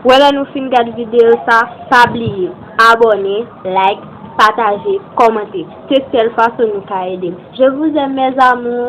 Wè lè nou fin gad video sa pa bliye abone like pataje komante se sèl fason nou ka edem je vous aime mes amours.